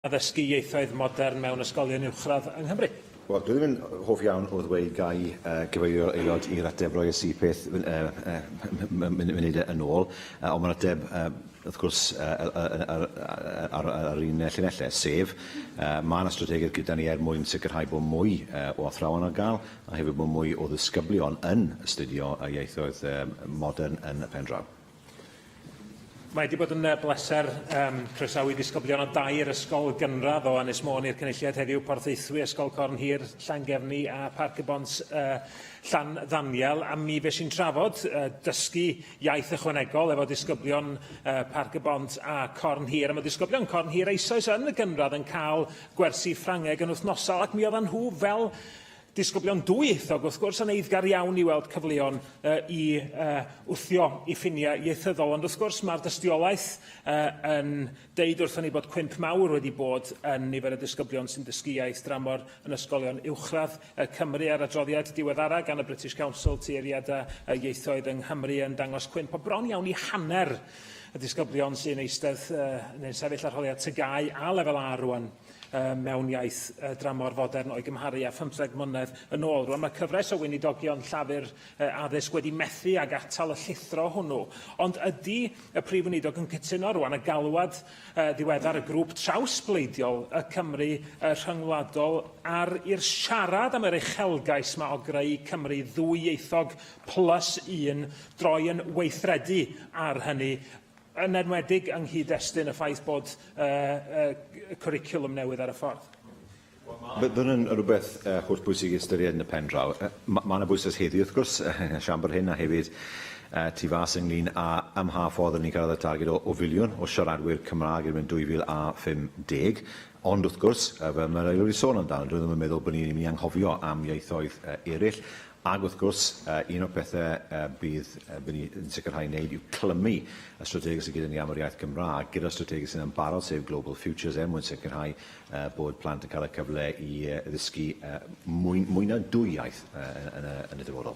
addysgu ieithoedd modern mewn ysgolion uwchradd yng Nghymru. Wel, dwi ddim yn hoff iawn o ddweud gai uh, gyfeirio aelod i'r ateb roi y peth munud yn ôl, uh, ond mae'r ateb uh, wrth gwrs uh, ar, ar, ar un llinellau, sef uh, mae yna strategaeth gyda ni er mwyn sicrhau bod mwy uh, o athrawon ar gael a hefyd bod mwy o ddisgyblion yn astudio ieithoedd uh, modern yn y pen draw. Mae wedi bod yn uh, bleser um, croesawu disgyblion o dair ysgol gynradd o Ynys Môn i'r cynulliad heddiw Porthaethwy, Ysgol Corn Hir, Llangefni a Parc y Bont uh, Llan Ddaniel. A mi fe sy'n trafod uh, dysgu iaith ychwanegol efo disgyblion uh, Parc y Bont a Corn Hir. A mae disgyblion Corn Hir eisoes yn y gynradd yn cael gwersi Ffrangeg yn wythnosol ac mi oedden nhw fel Disgyblion dwyieithog, wrth gwrs, yn eiddgar iawn i weld cyfleon uh, i uh, wthio i ffiniau ieithyddol, ond wrth gwrs mae'r dystiolaeth uh, yn deud wrthyn ni bod cwymp mawr wedi bod yn nifer y disgyblion sy'n dysgu iaith dramor yn ysgolion uwchradd uh, Cymru a'r adroddiad diweddara gan y British Council Tueddiadau uh, Ieithoedd yng Nghymru yn dangos cwymp o bron iawn i hanner y disgyblion sy'n eistedd uh, neu'n sefyll arholiad tygau a lefel A rwan. um, mewn iaith uh, dramor fodern o'i gymharu â phymtheg mlynedd yn ôl. Rwan mae cyfres o weinidogion llafur uh, addysg wedi methu ag atal y llithro hwnnw. Ond ydy y Prif Weinidog yn cytuno rwan y galwad uh, ddiweddar y grŵp trawsbleidiol y Cymru uh, rhyngwladol ar i'r siarad am yr uchelgais mae o greu Cymru ddwyieithog plus un droi yn weithredu ar hynny yn enwedig yng nghyd-destun y ffaith bod y cwricwlwm newydd ar y ffordd. Bydd hwn yn rhywbeth hollbwysig i ystyried yn y pen draw. Mae yna bwyslais heddiw, wrth gwrs, yn y Siambr hyn a hefyd tu fas ynglŷn â ym mha ffordd rydyn ni'n cyrraedd y targed o, o filiwn o siaradwyr Cymraeg erbyn 2050. Ond, wrth gwrs, fel mae'r Aelod wedi sôn amdano, dwi ddim yn meddwl bod ni'n mynd i anghofio am ieithoedd eraill, Ac wrth gwrs, un o'r pethau bydd bydd ni yn sicrhau wneud yw clymu y strategaeth sydd gyda ni am yr iaith Gymraeg gyda'r strategaeth sydd yn barod sef Global Futures er mwyn sicrhau bod plant yn cael y cyfle i ddysgu mwy, mwy na dwy iaith yn y, yn y dyfodol.